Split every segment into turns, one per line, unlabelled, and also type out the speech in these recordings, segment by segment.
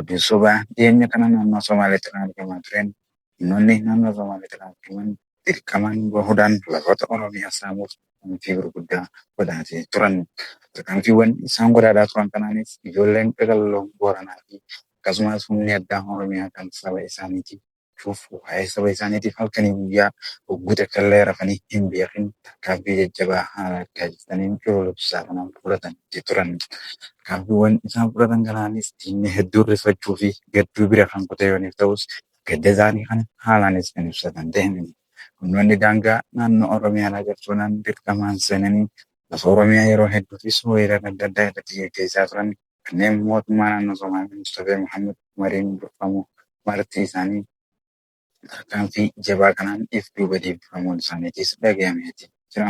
Oduu sobaa dhiyeenya kana naannoo Somaaleetti raawwatamaa tureen humnoonni naannoo Somaaleetti raawwataman dirqamaan bahuudhaan lafoota Oromiyaa saamuuf tarkaanfii gurguddaa godhaatee turan. Tarkaanfiiwwan isaan godhaataa turan kanaanis ijoolleen qaqalloon Booranaa fi akkasumas humni addaa Oromiyaa kan saba isaaniitiif Kanaafuu waa'ee saba isaaniitiif halkanii guyyaa hogguu takkallee rafanii hin beekin tarkaanfii jajjabaa haala taasisaniin cululuqsisaa kana fudhataniiti turan. Tarkaanfiiwwan isaan fudhatan kanaanis diinni hedduun rifachuu fi gadduu bira kan kute yooniif ta'us gadda isaanii kana haalaanis kan ibsatan ta'e. Humnoonni daangaa naannoo Oromiyaa alaa cabsuunaan dirqamaan seenanii lafa Oromiyaa yeroo hedduufis weerara adda addaa irratti geggeessaa turan. Kanneen mootummaa naannoo Somaalee Mustafee Mohaammed Umariin durfamu marti isaanii tarkaanfii jabaa kanaan if duuba deebifamuun isaaniitiis dhagayameeti jira.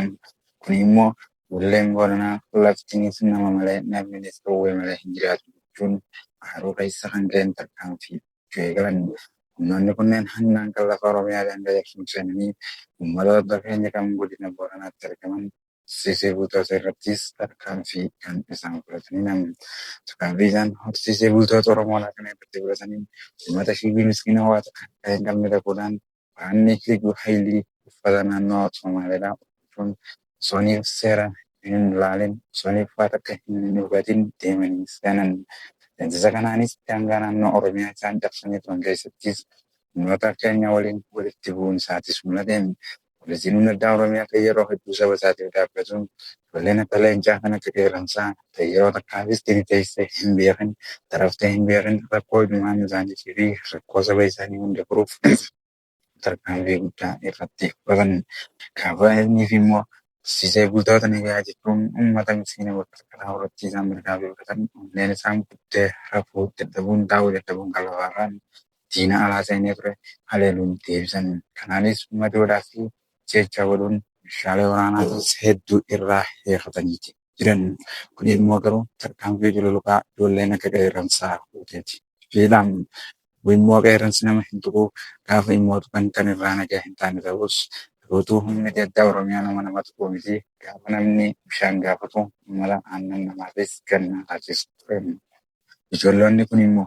Kuni immoo Bulleen Booranaa laftiinis nama malee namninis qawwee malee hin jiraatu jechuun aaruu keessa kan ga'een tarkaanfii fudhachuu eegalan. Humnoonni kunneen handaanqan lafa Oromiyaa daangayachuun seenanii ummatoota keenya kan godina Booranaatti argaman horsiisee bultoota irrattis tarkaanfii kan isaan fudhataniin amanti. Tarkaanfii isaan horsiisee bultoota Oromoo alaa kana irratti fudhataniin uummata shiibii miskiina waa takka harkaa hin qabne dhaquudhaan waraanni Liyyuu Hayilii uffata naannoo Somaaleedhaa uffachuun osooniif seera hin laalin, osooniif waa takka hin hubatin deemanii seenan. Deemsisa kanaanis daangaa naannoo Oromiyaa isaan cabsanii turan keessattis humnoota keenya waliin walitti bu'uun isaatis mul'ate. Poolisiin Humna Addaa Oromiyaa kan yeroo hedduu saba isaatiif dhaabbatuun ijoolleen akka leencaa kan akka qeerransaa ta'e yeroo takkaafis tini teessee hin beekin, taraftee hin beekin rakkoo ilmaan isaaniitii fi rakkoo saba isaanii hunda furuuf tarkaanfii guddaa irratti fudhatan. Gaafa ilmii fi immoo barsiisee bultoota nagayaa jechuun uummata miskiina bakka karaa irratti isaan mirgaa beelatan onneen isaan buttee rafuu dadhabuun taa'uu dadhabuun kan lafarraan diina alaa seenee ture haleeluun deebisan. Kanaanis madoodhaa fi ajjeechaa godhuun meeshaalee waraanaatiis hedduu irraa hiikataniiti jiran. Kuni immoo garuu tarkaanfii cululuqaa ijoolleen akka qeerransaa fuuteeti. Fiixaan wbo immoo qeerransi nama hin tuqu, gaafa immoo tuqan kan irraa nagaa hin taane ta'us, garootu humni gaddaa Oromiyaa nama nama tuquu miti, gaafa namni bishaan gaafatu mala aannan namaafis gannaa laachisa ture. Ijolloonni kuni immoo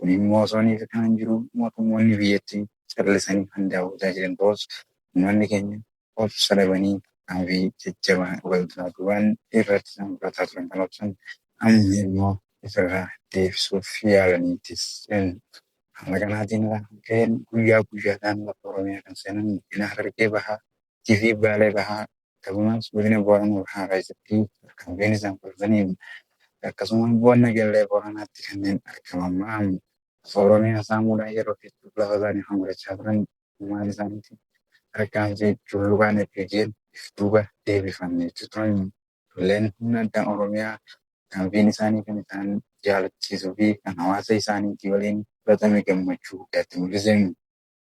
Kun immoo osoo hin hiikamin jiru mootummoonni biyyattii callisanii kan daawwataa jiran ta'us ummanni keenya obsa dhabanii tarkaanfii jajjabaa walduraa duubaan irratti isaan fudhataa turan kan obsan amma immoo ofirraa deebisuuf yaalaniiti jiran. Haala kanaatiin irraa kan ka'een guyyaa guyyaadhaan lafa Oromiyaa kan seenan godina Harargee Bahaa Gujii fi Baalee Bahaa akkasumas Godina Booranaa Bahaa keessatti tarkaanfiin isaan fudhataniin akkasumas Bu'an Nageellee Booranaatti kanneen argaman maraam lafa Oromiyaa saamuudhaan yeroo hedduuf lafa isaanii kan godhachaa turan uummata isaaniitti tarkaanfii cululuqaan FDGn if duuba deebifamne jechuu turan. Lolleen humna addaa Oromiyaa tarkaanfiin isaanii kan isaan jaalachiisuu fi kan hawaasa isaaniitii waliin fudhatame gammachuu guddaatti mul'ise.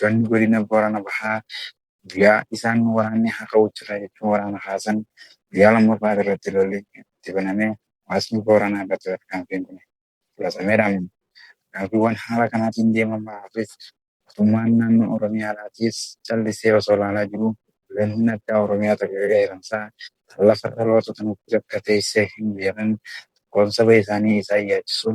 Loltoonni godina Boorana Bahaa guyyaa isaan waraanni haa ka'u jirra jechuun waraana kaasan guyyaa lammaffaa irratti lolli itti banamee hawaasni Booranaa irratti tarkaanfiin kun fudhatameera. Tarkaanfiiwwan haala kanaatiin deeman maraafis mootummaan naannoo Oromiyaadhaatiis callisee osoo ilaalaa jiruu lolli addaa Oromiyaa tokko erga eeramsaa kan lafa dhaloota tana guutuu akka teessee hin beekne tokkoon saba isaanii isaan yaachisuu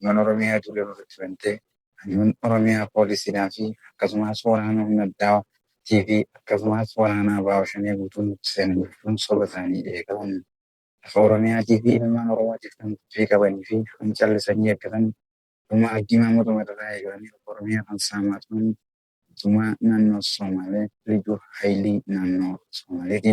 Ilmaan Oromiyaa duula nurratti bantee Hayyuun Oromiyaa poolisiidhaa fi akkasumaas waraana humna addaa TV akkasumaas waraana Abaa'oo Shanee guutuu nutti seena jechuun soba isaanii eegalu. Lafa Oromiyaatii fi ilmaan Oromootiif kan tuffii qabanii fi kan callisanii eeggatan dhuma Hajjii Maamud Umar irraa eegalanii lafa Oromiyaa kan saamaa turan mootummaa naannoo Soomaalee Liyyuu Hayilii naannoo Soomaaleeti.